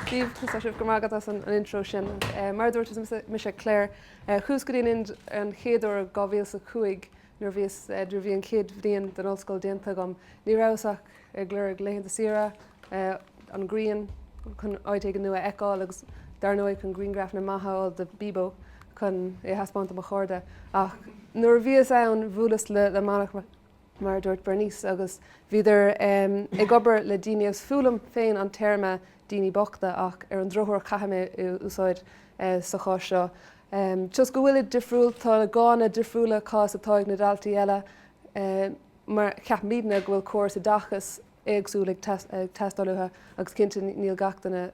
Go raibh maith agat as an intro sin. Mar a dúirt, is mise Clare, chuas go dtí an Ind an chéad uair in 2005 nuair a bhíos, nuair a bhí an chéad bhliain den ollscoil déanta agam. Ní rabhas ach ag lorg laethanta saoire, an grian chun áit éigin nua a fheiceáil agus dar ndóigh chun grianghrafanna maithe a fháil do Bíbó chun é a thaispeáint do mo chairde. Ach nuair a bhíos ann bhuaileas le manaigh, mar a dúirt Bernice, agus bhíodar ag obair le daoine agus is fuath liom féin an téarma 'daoine bochta' ach ar an drochuair caithfidh mé é a úsáid sa chás seo toisc go bhfuilid difriúil, tá a ngánna difriúla seachas atá ag na daltaí eile mar ceapaimidne go bhfuil córas oideachais éagsúil ag teastáil uathu agus cinnte níl gach duine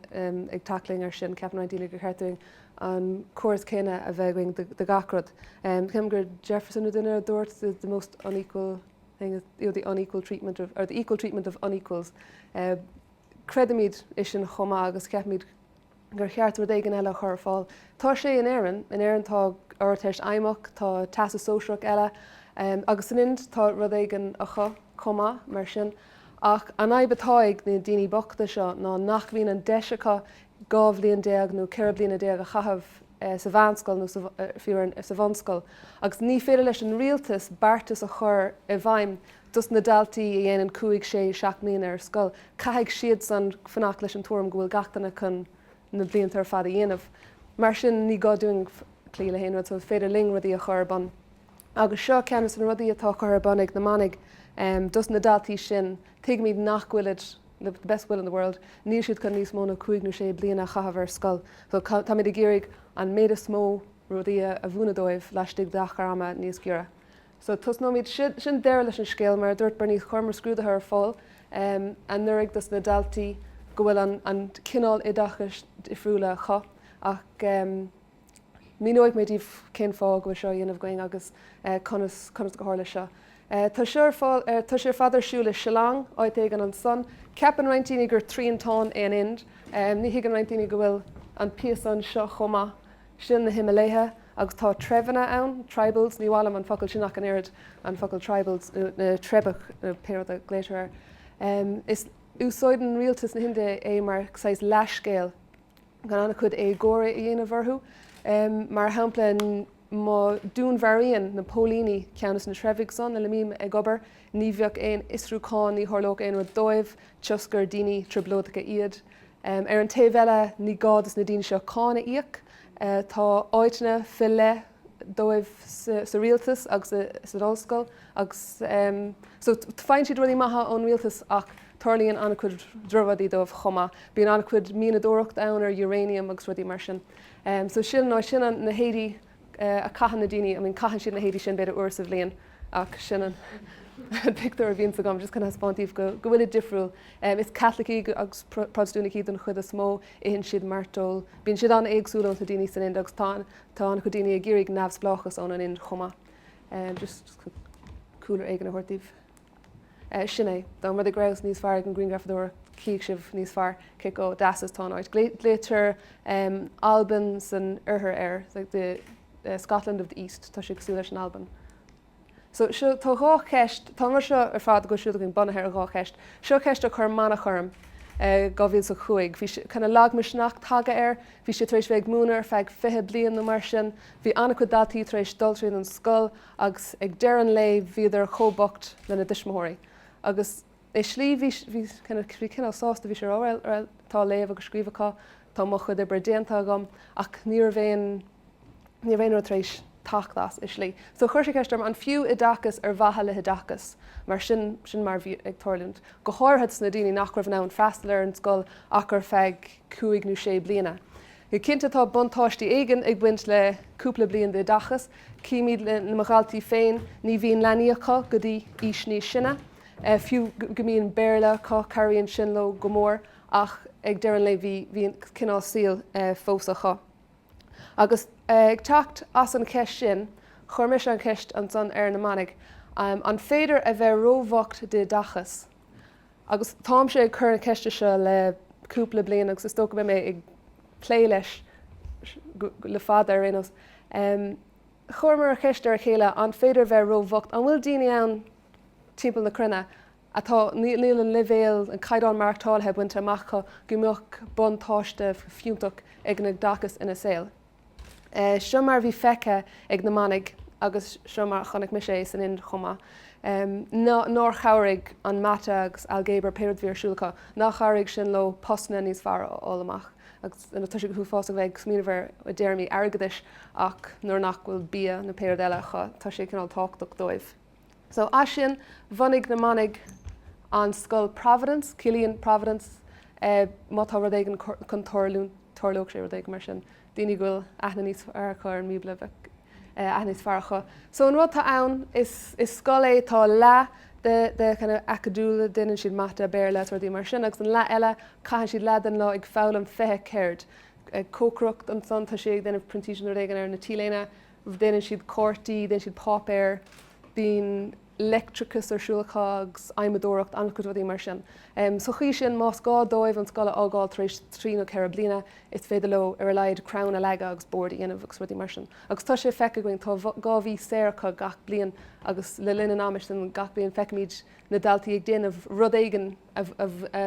ag tackling ar sin. Ceapann roinnt daoine gur cheart dúinn an córas céanna a bheith againn do gach aon rud. Ceapaim gur Jefferson nó duine eile a dúirt the most unequal thing is the unequal treatment of, or the equal treatment of unequals. Creidimid é sin chomh maith agus ceapaimid gur cheart rud éigin eile a chur ar fáil. Tá sé in Éirinn, in Éirinn tá Ardteist Fheidhmeach, tá Teastas Sóisearach eile, agus san Ind tá rud éigin acu chomh maith, mar sin. Ach an fhadhb atá ag na daoine bochta seo ná nach mbíonn an deis acu dhá bhliain déag nó ceithre bliana déag a chaitheamh sa mheánscoil nó, fiú, sa bhunscoil, agus ní féidir leis an rialtas beartas a chur i bhfeidhm dos na daltaí a dhéanann cúig, sé, seacht mbliana ar scoil, caithfidh siadsan fanacht leis an tuairim go bhfuil gach éinne chun na blianta ar fad a dhéanamh. Mar sin, ní gá dúinn cloí le héinne, so is féidir linn rudaí a chur ar bun. Agus seo ceann dos na rudaí atá curtha ar bun ag na manaigh dos na daltaí sin. Tuigimid nach bhfuilid, the best will in the world, níl siad chun níos mó ná cúig nó sé bliana a chaitheamh ar scoil, so táimid ag iarraidh an méid is mó rudaí a mhúineadh dóibh laistigh d'achar ama níos giorra. So, tosnóimid, sin deireadh leis an scéal, mar a dúirt Bernice, chuireamar scrúdaithe ar fáil anuraidh dos na daltaí go bhfuil an cineál oideachais difriúla acu ach míneoidh mé daoibh cén fáth go bhfuil seo á dhéanamh againn agus conas, conas gur tharla seo. Tá sé ar fad ar siúl i Shillong, áit éigin ansan. Ceapann roinnt daoine gur triantán é an Ind. Ní thuigeann roinnt daoine go bhfuil an píosa anseo chomh maith. Sin na Himiléithe, agus tá treibheanna ann, tribals, ní mhaith liom an focal sin ach an oiread, an focal tribals, nó na treibheacha, nó pé rud a ghlaotar air. Is úsáideann rialtas na hInde é mar saghas leathscéal chun an-chuid éagóra a dhéanamh orthu. Mar shampla, má dúnmharaíonn na póilíní ceann dos na treibhigh san lena mbím ag obair, ní bheadh aon fhiosrúchán, ní tharlódh aon rud dóibh, toisc gur daoine trioblóideacha iad. Ar an taobh eile, ní gá dos na daoine seo cáin a íoc. Tá áiteanna fe leith dóibh sa rialtas agus san ollscoil agus so faigheann siad rudaí maithe ón rialtas ach tarlaíonn an-chuid drochrudaí dóibh chomh maith. Bíonn an-chuid mianadóireacht ann ar uranium agus rudaí mar sin. So sin na, sin na héadaí a caitheann na daoine, I mean caitheann siad na héadaí sin b'fhéidir uair sa bhliain ach sin an pictiúr a bhíonn agam, just chun a thaispeáint daoibh go bhfuil siad difriúil. Is Caitlicigh agus Protastúnaigh iad don chuid is mó, itheann siad mairteoil, bíonn siad an-éagsúil ós na daoine san Ind agus tá an-chuid daoine ag iarraidh neamhspleáchas ón an Ind chomh maith. Just cúlra éigin a thabhairt daoibh. Sin é. Dá mba rud é go rabhas níos fearr ag an ghrianghrafadóireacht tchífeadh sibh níos fearr cé chomh deas is atá an áit. Glaoitear Albain san Oirthear air, the Scotland of the East. Tá sé cosúil leis an Albain. So, seo, tá dhá cheist, tá an rud seo ar fad a bhfuil ar siúl againn bunaithe ar dhá cheist. Seo ceist a chuir Manach orm i 2005. Bhí cineál lagmhisneach tagtha air, bhí sé tar éis bheith ag múineadh ar feadh fiche bliain nó mar sin, bhí an-chuid daltaí tar éis dul tríd an scoil agus ag deireadh an lae bhíodar chomh bocht le na dtuismitheoirí agus i slí bhí sé cineál sásta bhí sé ag rá well tá léamh agus scríobh acu tá mo chuid oibre déanta agam ach ní raibh aon ní raibh aon rud tar éis teacht as i slí so chuir sé ceist orm an fiú oideachas ar mhaithe le hoideachas mar sin sin mar bhí ag tarlúint go háirithe dos na daoine nach raibh in ann freastal ar an scoil ach ar feadh cúig nó sé bliana Go cinnte tá buntáistí éigin ag baint le cúpla bliain d'oideachas. Címid le mo dhaltaí féin, ní bhíonn leanaí acu go dtí aois níos sine. Fiú go mbíonn Béarla acu, cabhraíonn sin leo go mór ach ag deireadh an lae bhí an cineál saoil fós acu. Agus ag teacht as an cheist sin, chuir mise an cheist ansan ar na manaigh, an féidir a bheith róbhocht d'oideachas? agus táimse ag cur na ceiste seo le cúpla bliain agus is dócha go mbeidh mé ag plé leis le fada ar aon nós. Chuireamar an cheist ar a chéile, an féidir a bheith ró-bhocht? An bhfuil daoine ann timpeall na cruinne atá, níl an leibhéal, an caighdeán maireachtála bainte amach acu go mbeadh buntáiste fiúntach ag an oideachas ina saol? Seo mar a bhí feicthe ag na manaigh agus seo mar a chonaic mise é san Ind chomh maith. Nár chabhraigh an mata agus ailgéabar, pé rud a bhí ar siúl acu, nár chabhraigh sin leo postanna níos fearr a fháil amach. Agus tá sé go huafásach a bheith ag smaoineamh air i dtéarmaí airgeadais ach nuair nach bhfuil bia nó pé rud eile acu tá sé cineál tábhachtach dóibh. So as sin, bhunaigh na manaigh an scoil Providence, ciallaíonn Providence má tá rud éigin chun tarlúint, tarlóidh sé, rud éigin mar sin, daoine go bhfuil aithne níos fearr acu ar an mBíobla, bheadh aithne níos fearr acu. So an rud atá ann, is scoil é, tá leath de, de kind of acadúil, déanann siad mata, Béarla is rudaí mar sin agus an leath eile, caitheann siad leath den lá ag foghlaim fiche ceird, ag cócaireacht, ansan tá siad ag déanamh printíseacht nó rud éigin ar na T-léine, déanann siad cártaí, déanann siad páipéar, bíonn leictreachas ar siúl acu agus adhmadóireacht, an-chuid rudaí mar sin. Sa chaoi sin, más gá dóibh an scoil a fhágáil tar éis trí nó ceithre bliana, is féidir leo ar a laghad crann a leagadh agus bord a dhéanamh agus rudaí mar sin. Agus tá sé feicthe againn, tá dhá mhí saor acu gach bliain agus le linn an ama sin gach bliain feicimid na daltaí ag déanamh rud éigin a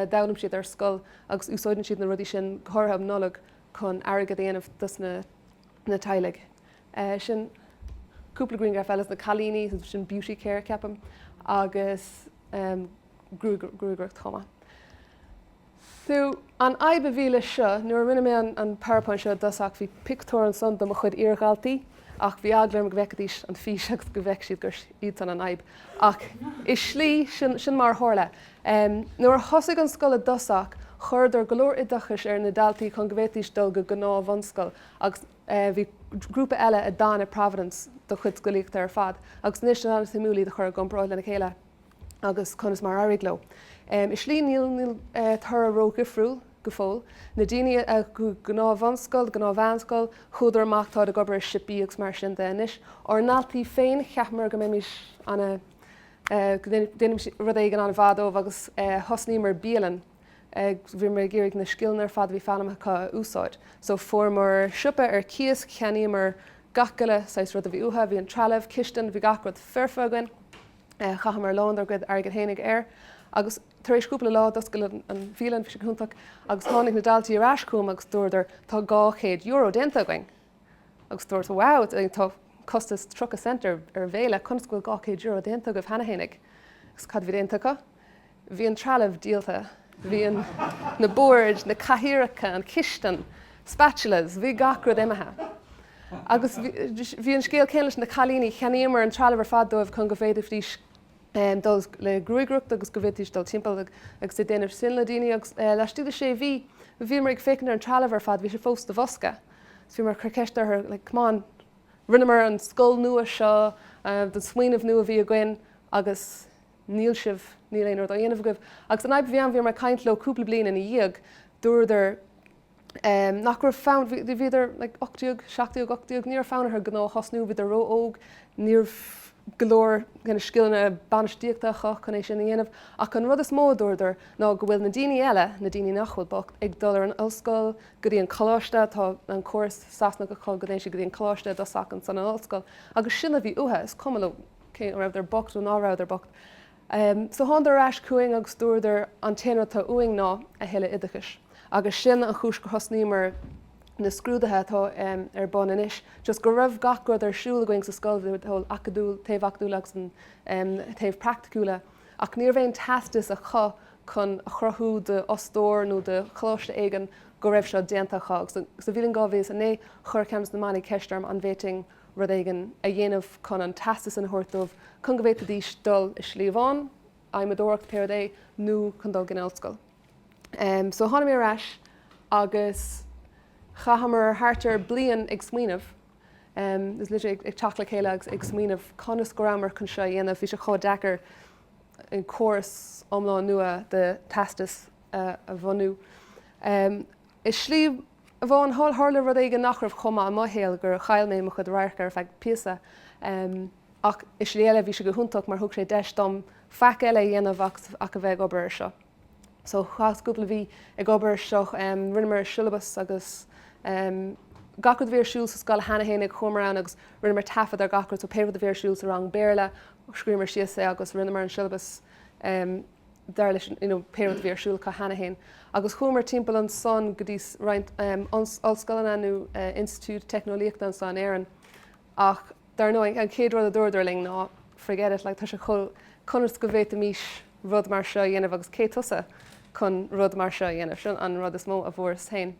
d'fhoghlaim siad ar scoil agus úsáideann siad na rudaí sin, go háirithe um Nollaig, chun airgead a dhéanamh dos na. na teaghlaigh. Sin cúpla grianghraf eile, na cailíní, sin Beauty Care, ceapaim, agus gruagaireacht chomh maith. So, an fhadhb a bhí leis seo, nuair a rinne mé an PowerPoint seo i dtosach, bhí pictiúir ansan de mo chuid iardhaltaí ach bhí eagla orm go bhfeicfidís an fís agus go bhfeicfidh siad gur iadsan an fhadhb. Ach i slí, sin mar a tharla. Um nuair a thosaigh an scoil i dtosach, chuireadar go leor oideachais ar na daltaí chun go bhféadfaidís dul go gnáth-bhunscoil agus bhí grúpa eile a d'fhan i Providence dá gcuid scolaíochta ar fad agus anois is an-suimiúil iad a chur i gcomparáid lena chéile agus conas mar a éirigh leo. Um i slí níl níl toradh ró-dhifriúil go fóill. Na daoine a go gnáth-bhunscoil, gnáth-mheánscoil, chuadar amach, táid ag obair i siopaí agus mar sin de anois. Ár ndaltaí féin, cheapamar go mbeimís ana ag déanamh rud éigin an-mhaith dóibh agus thosnaíomar bialann, bhíomar ag iarraidh na scileanna ar fad a bhí foghlamtha acu a úsáid. So fuaireamar siopa ar cíos, cheannaíomar gach uile saghas rud a bhí uathu, bhí an trealamh, cistin, bhí gach rud foirfe againn, chaitheamar a lán dár gcuid airgid fhéinig air. Agus tar éis cúpla lá, d'oscail an bhialann, bhí sé go hiontach, agus tháinig na daltaí ar ais chugam agus dúradar, tá dhá chéad euro déanta againn! agus dúrt Wow, tá costas tríocha cent ar an bhéile, conas go bhfuil dhá chéad euro déanta agaibh cheana féinig? Agus cad a bhí déanta acu? Bhí an trealamh díolta, bhí na boird, na cathaoireacha, an chistin, spatulas, bhí gach rud imithe. Agus bhí an scéal céanna leis na cailíní, cheannaíomar an trealamh ar fad dóibh chun go bhféadfaidís dul le gruagaireacht agus go bhféadfaidís dul timpeall agus é a dhéanamh sin le daoine agus laistigh de sé mhí bhíomar ag féachaint ar an trealamh ar fad, bhí sé fós ina bhosca so bhíomar ag cur ceist orthu like come on rinneamar an scoil nua seo den smaoineamh nua a bhí againn agus níl sibh, níl aon rud á dhéanamh agaibh agus an fhadhb a bhí ann bhíomar ag caint leo cúpla bliain ina dhiaidh dúradar. ná raibh fonn, bhíodar like ocht déag, seacht déag, ocht déag, ní raibh fonn orthu gnó a thosnú, bhíodar ró-óg, ní raibh go leor kind of scileanna bainistíochta acu chun é sin a dhéanamh. Ach an rud is mó a dúradar ná go bhfuil na daoine eile, na daoine nach bhfuil bocht, ag dul ar an ollscoil, go dtí an coláiste, tá an córas Sasanach acu go dtéann siad go dtí an coláiste i dtosach ansan an ollscoil, agus sin a bhí uatha, is cuma leo cé acu rabhadar bocht nó ná rabhadar bocht. So thánadar ar ais chugainn agus dúradar, an t-aon rud atá uainn ná a thuilleadh oideachais. Agus sin an chúis gur thosnaíomar na scrúduithe atá ar bun anois, just go raibh gach rud ar siúl againn sa scoil, an taobh acadúil, taobh acadúil agus an taobh praiticiúil. Ach ní raibh aon teastas acu chun a chruthú d'fhostóir nó do choláiste éigin go raibh seo déanta acu. Agus sa bhliain 2009 chuir ceann des na Manaigh ceist orm an bhféadfainn, rud éigin a dhéanamh chun an teastas sin a thabhairt dóibh chun go bhféadfaidís dul i slí amháin, adhmadóireacht pé rud é, nó chun dul go dtí an ollscoil. So tháinig mé ar ais agus chaitheamar thart ar bliain ag smaoineamh, is literally ag teacht le chéile agus ag smaoineamh conas go rabhamar chun seo a dhéanamh. Bhí sé chomh deacair an córas iomlán nua de teastas a bhunú i slí. amháin, tharla rud éigin nach raibh chomh maith i mo shaol gur chaill mé mo chuid radhairc ar feadh píosa. Ach i slí eile bhí sé go hiontach mar thug sé deis dom faic eile a dhéanamh ach a bheith ag obair ar seo. So chaitheas cúpla mí ag obair ar seo, rinneamar siollabas agus gach rud a bhí ar siúl sa scoil cheana féin chuamar ann agus rinneamar taifead ar gach rud so pé rud a bhí ar siúl sa rang Béarla, scríomar síos é agus rinneamar an siollabas. dar leis you know pé rud a bhí ar siúl acu cheana féin. Agus chuamar timpeall ansan go dtí roinnt ollscoileanna nó institiúid teicneolaíochta anseo in Éirinn ach dar ndóigh an chéad rud a dúradar linn ná forget it like tá sé chomh conas go bhféadfaimís rud mar seo a dhéanamh agus cé tusa chun rud mar seo a dhéanamh? Sin an rud is mó a fuaireas féin.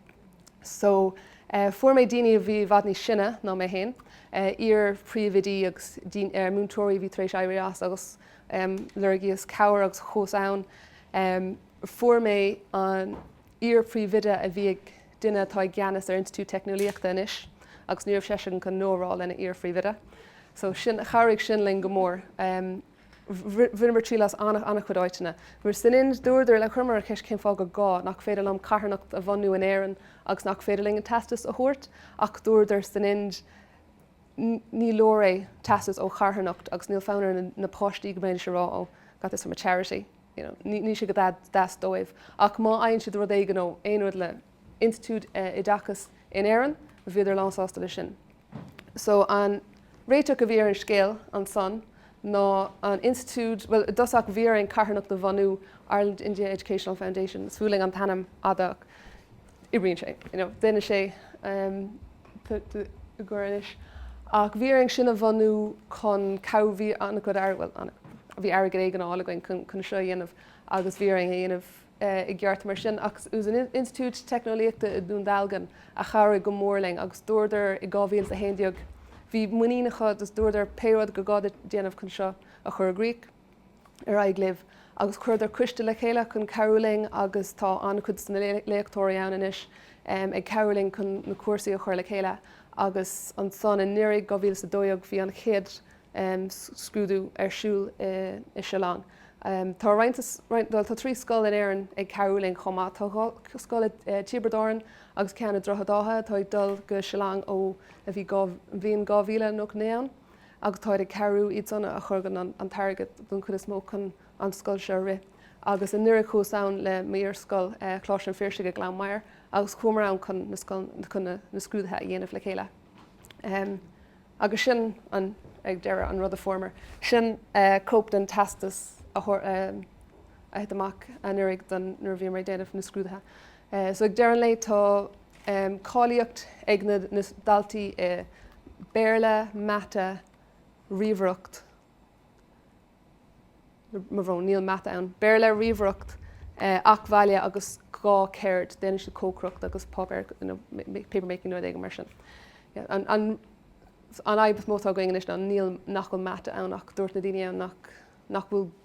So fuair mé daoine a bhí i bhfad níos sine ná mé féin, iar-phríomhoidí agus múinteoirí a bhí tar éis éirí as agus Loirgíos cabhair agus chuas ann. Fuair mé an iar-phríomhoide a bhí ag duine atá i gceannas ar Institiúid Teicneolaíochta anois agus ní raibh seisean chun no a rá lena iar-phríomhoide. So chabhraigh sin linn go mór. Bhaineamar triail as an-chuid áiteanna. San Ind, dúradar le, chuireamar an cheist cén fáth gur gá, nach féidir liom carthanacht a bhunú in Éirinn agus nach féidir linn an teastas a thabhairt ach dúradar san Ind, ní leor é, teastas ó charthanacht agus níl fonn ar na páistí go mbeidís ag rá oh, got this from a charity, you know, níl sé go deas dóibh. Ach má fhaigheann siad rud éigin ó aon rud le institiúid oideachais in Éirinn, bhíodar lánsásta leis sin. So an réiteach a bhí ar an scéal ansan ná an institiúid, bhuel, i dtosach bhí orainn carthanacht a bhunú, Ireland India Educational Foundation, is fuath linn an t-ainm fada, oibríonn sé, you know, déanann sé, i gcomhair anois, ach bhí orainn sin a bhunú chun cabhrú, bhí an-chuid airgid, bhuel, an-chuid, bhí airgead éigin á fháil againn chun, chun seo a dhéanamh agus bhí orainn é a dhéanamh i gceart mar sin ach is an institiúid teicneolaíochta i nDún Dealgan a chabhraigh go mór linn agus dúradar i 2011, bhí muinín acu, just dúradar pé rud gur gá duit déanamh chun seo a chur i gcrích. ar aghaidh libh agus chuireadar coiste le chéile chun cabhrú linn agus tá an-chuid de na léachtóirí ann anois ag cabhrú linn chun na cúrsaí a chur le chéile agus ansan anuraidh 2012 bhí an chéad scrúdú ar siúl i Shillong. Tá roinnt, bhuel tá trí scoil in Éirinn ag cabhrú linn chomh maith, tá dhá scoil i dTiobraid Árann agus ceann i nDroichead Átha atá ag dul go Shillong ó a bhí an bhliain 2000 a naoi ann. agus táid ag cabhrú iad san a thugann an t-airgead den chuid is mó chun an scoil seo a rith agus anuraidh chuas ann le m'iarscoil, Coláiste an Phiarsaigh i nGleann Maighir agus chuamar ann chun na scoil chun na na scrúdaithe a dhéanamh le chéile em agus sin an ag deireadh an rud a fuaireamar. Sin eh cóip den teastas a thabhair eh a thit amach anuraidh don nuair a bhíomar ag déanamh na scrúdaithe. So ag deireadh an lae tá cáilíocht ag na daltaí i Béarla, Mata, Ríomhaireacht, mo bhrón níl Mata ann, Béarla, Ríomhaireacht, Eac. Bhaile agus dhá cheird, déanann siad cócaireacht agus páipéar, paper making nó rud éigin mar sin. An fhadhb is mó atá againn anois ná níl, nach bhfuil Mata ann ach dúirt na daoine ann nach bhfuil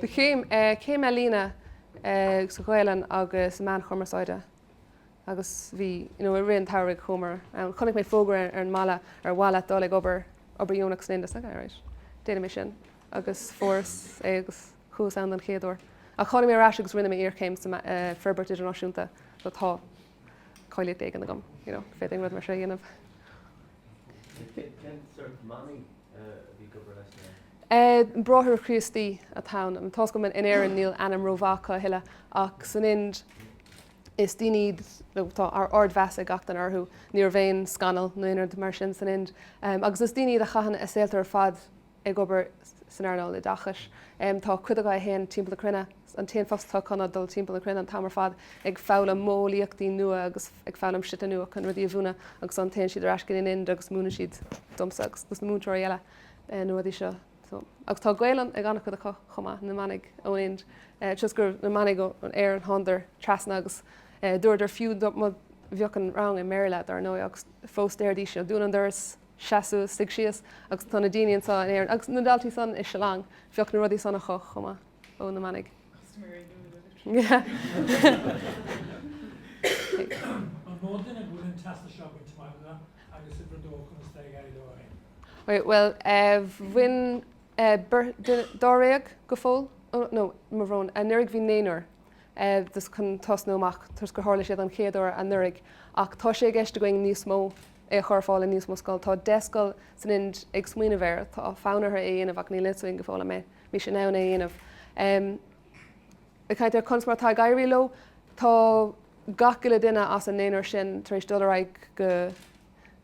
de chéim, céim ealaíne sa Ghaelainn agus i meáin chumarsáide agus bhí, you know i rith an tsamhraidh chuamar ann, chonaic mé fógra ar an mballa ar mhaith leat dul ag obair, obair dheonach san Ind. Alright, déanfaidh mé sin agus fuaireas é agus chuas ann don chéad uair ach tháinig mé ar ais agus rinne mé iarchéim san Fhorbairt Idirnáisiúnta so tá cáilíocht éigin agam, you know féadfainn rud mar seo a dhéanamh. Cén sórt manaigh a bhí ag obair leis na. Bráithre Críostaí atá ann. Anseo in Éirinn níl ainm rómhaith acu a thuilleadh ach san Ind is daoine iad nó tá ardmheas ag gach duine orthu, ní raibh aon scannal nó aon rud mar sin san Ind agus is daoine iad a chaitheann a saolta ar fad ag obair san earnáil oideachais. Tá cuid acu a théann timpeall na cruinne, an t-aon phost atá acu ná dul timpeall na cruinne an t-am ar fad ag foghlaim modheolaíochtaí nua agus ag foghlaim slite nua chun rudaí a mhúineadh agus ansan téann siad ar ais go dtí an Ind agus múineann siad domsa agus do na múinteoirí eile. na rudaí seo. Agus tá Gaelainn ag an-chuid acu chomh maith, na manaigh ón Ind, toisc go raibh na manaigh ó Éirinn, thánadar trasna agus dúradar fiú dá bheadh an rang i mBéarla, dar ndóigh, agus fós déarfaidís seo, dún an doras, seas suas, suigh síos, agus tá na daoine anseo in Éirinn, agus na daltaí san i Shillong, bheadh na rudaí san acu chomh maith. ó na manaigh. An mó duine a bhuaileann teastais á bhaint amach acu agus uimhir a dó, conas atá ag éirí leo ó shin? Bhuel, bhain beirt, dáréag go fóill, no, mo bhrón, anuraidh bhí naonúr chun tosnú amach toisc gur tharla sé an chéad uair anuraidh ach tá sé i gceist againn níos mó, é a chur ar fáil i níos mó scoileanna. Tá deich scoil san Ind ag smaoineamh air, tá fonn orthu é a dhéanamh ach níl a fhios againn go fóill an mbeidh. siad in ann é a dhéanamh. I gcomhair conas mar atá ag éirí leo. Tá gach uile duine as an naonúr sin tar éis dul ar aghaidh go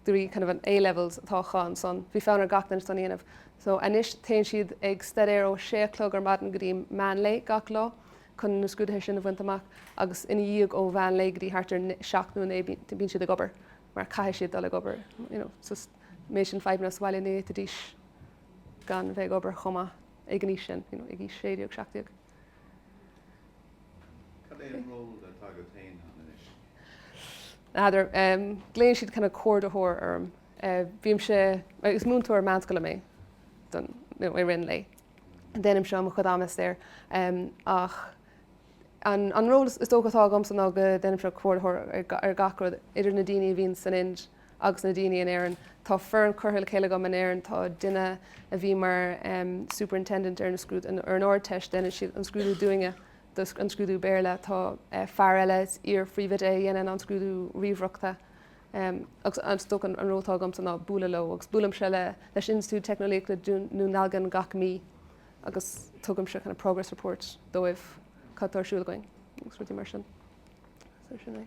dtí kind of an A-levels atá acu ansan. Bhí fonn ar gach duine san a dhéanamh. So anois téann siad ag staidéar ó sé a chlog ar maidin go dtí meán lae gach lá chun na scrúduithe sin a bhaint amach agus ina dhiaidh ó mheán lae go dtí thart ar seacht bíonn siad ag obair mar caithfidh siad dul ag obair, you know, so an méid sin fadhbanna sa bhaile ní fhéadfaidís gan bheith ag obair chomh maith ag an aois sin, you know ag aois sé déag, seacht déag. Cad é an ról atá agat féin ann anois? N'fheadar. Glaonn siad kind of comhordaitheoir orm. Bímse, is múinteoir meánscoile mé don, you know i rith an lae. Déanaimse é i mo chuid ama saor ach an an ról is dócha atá agamsa ná go ndéanaimse comhordaitheoir ar gach rud idir na daoine a bhíonn san Ind agus na daoine in Éirinn. Tá foireann curtha le chéile agam in Éirinn, tá duine a bhí mar superintendent ar an Ardteist, deineann siad an scrúdú dúinne, an scrúdú Béarla, tá fear eile, is iar-phríomhoide é, a dhéanann an scrúdú ríomhaireachta agus is dócha an ról atá agamsa ná bualadh leo agus buailimse leis an Institiúid Teicneolaíochta Dún Dealgan gach mí agus tugaimse kind of progress report dóibh, cad atá ar siúl againn agus rudaí mar sin. So sin é.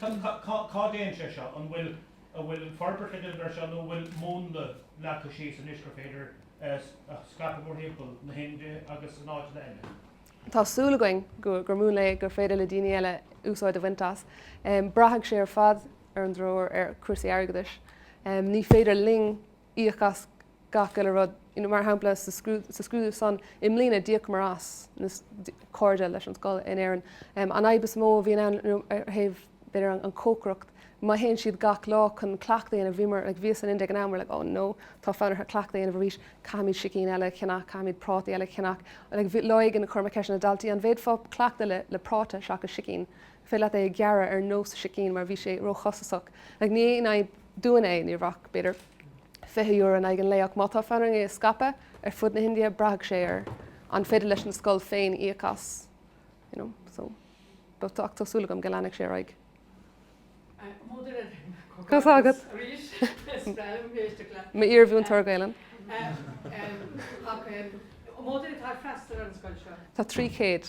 Cad, cad, cá, cá dtéann sé seo? An bhfuil, an bhfuil forbairt le déanamh air seo nó an bhfuil múnla leagtha síos anois gur féidir a scaipeadh mórthimpeall na hInde agus in áiteanna eile? Tá súil againn go, gur múnla é gur féidir le daoine eile úsáid a bhaint as. Braithfidh sé ar fad ar an dtreoir ar chúrsaí airgeadais. Ní féidir linn. íoc as gach uile rud. You know, mar shampla, an scrúdú san i mbliana, d'íocamar as, you know, cairde leis an scoil in Éirinn. An fhadhb is mó a bhíonn ann, you know, ar thaobh, b'fhéidir, an chócaireacht, má théann siad gach lá chun cleachtadh a dhéanamh, bhíomar, like, bhíos san Ind ag an am, we're like, oh no, tá fonn orthu cleachtadh a dhéanamh arís, caithfimid sicín eile a cheannach, caithfimid prátaí eile a cheannach. Like, lá éigin, chuir mé ceist ar na daltaí, an bhféadfá cleachtadh le, le práta seachas sicín? féidir leat é a ghearradh ar nós sicín mar bhí sé róchostasach. Ach ní aon fhadhb dúinn é, ní bheadh, b'fhéidir, €20 in aghaidh an lae ach má tá fonn orainn é a scaipeadh ar fud na hIndia, braithfidh sé air an féidir leis an scoil féin íoc as, you know, so but ach tá súil agam go leanfaidh sé ar aghaidh. Tá a fhios agat arís. Spreagann mé éisteacht leat. M'iarmhúinteoir Gaelainne. Ach, um, um, um, mó duine atá ag freastal ar an scoil seo? Tá trí chéad.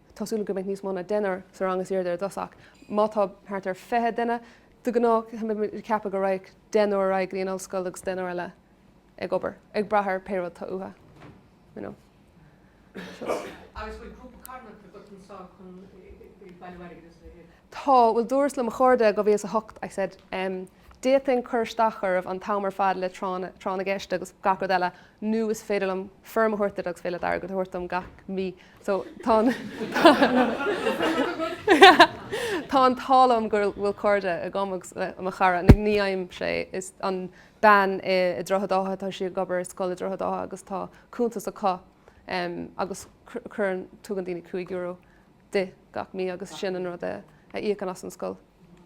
tá súil agam go mbeidh níos mó ná deichniúr sa rang is airde i dtosach má tá thart ar fiche duine de ghnáth tá mé ag ceapadh go raghadh deichniúr ar aghaidh go dtí an ollscoil agus deichniúr eile ag obair ag brath ar pé rud tá uatha you know so. Agus bhfuil grúpa carthanachta agat anseo chun ag bailiú airgid is a leithéid? Tá, bhuel, dúras le mo chairde 2008, I said, em, d'fhéadfainn cur isteach oraibh an t-am ar fad le Tráth na, Tráth na gCeist agus gach rud eile nó is féidir liom foirm a thabhairt duit agus féidir leat airgead a thabhairt dom gach mí so tá an, tá an t-ádh liom go bhfuil cairde agam agus mo chara, na, ní fhaighimse é, is an bean i, i Droichead Átha, tá sí ag obair i scoil i Droichead Átha agus tá cuntas acu em agus cuireann, tugann daoine cúig euro di gach mí agus sin an rud a íocann as an scoil.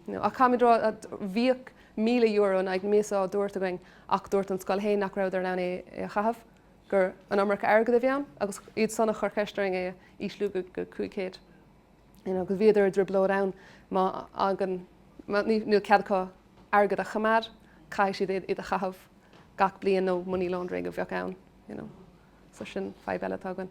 Ach caithfimid rá bhíodh míle euro in aghaidh na míosa á dtabhairt againn ach dúirt an scoil féin nach rabhadar in ann é a chaitheamh, gur an iomarca airgid a bhí ann agus iadsan a chuir ceist orainn é a ísliú go cúig chéad. Agus bhíodar i dtrioblóid ann má fhaigheann, níl cead acu airgead a choimeád, caithfidh siad iad a chaitheamh gach bliain nó money laundering a bheadh ann. So sin fadhb eile atá againn.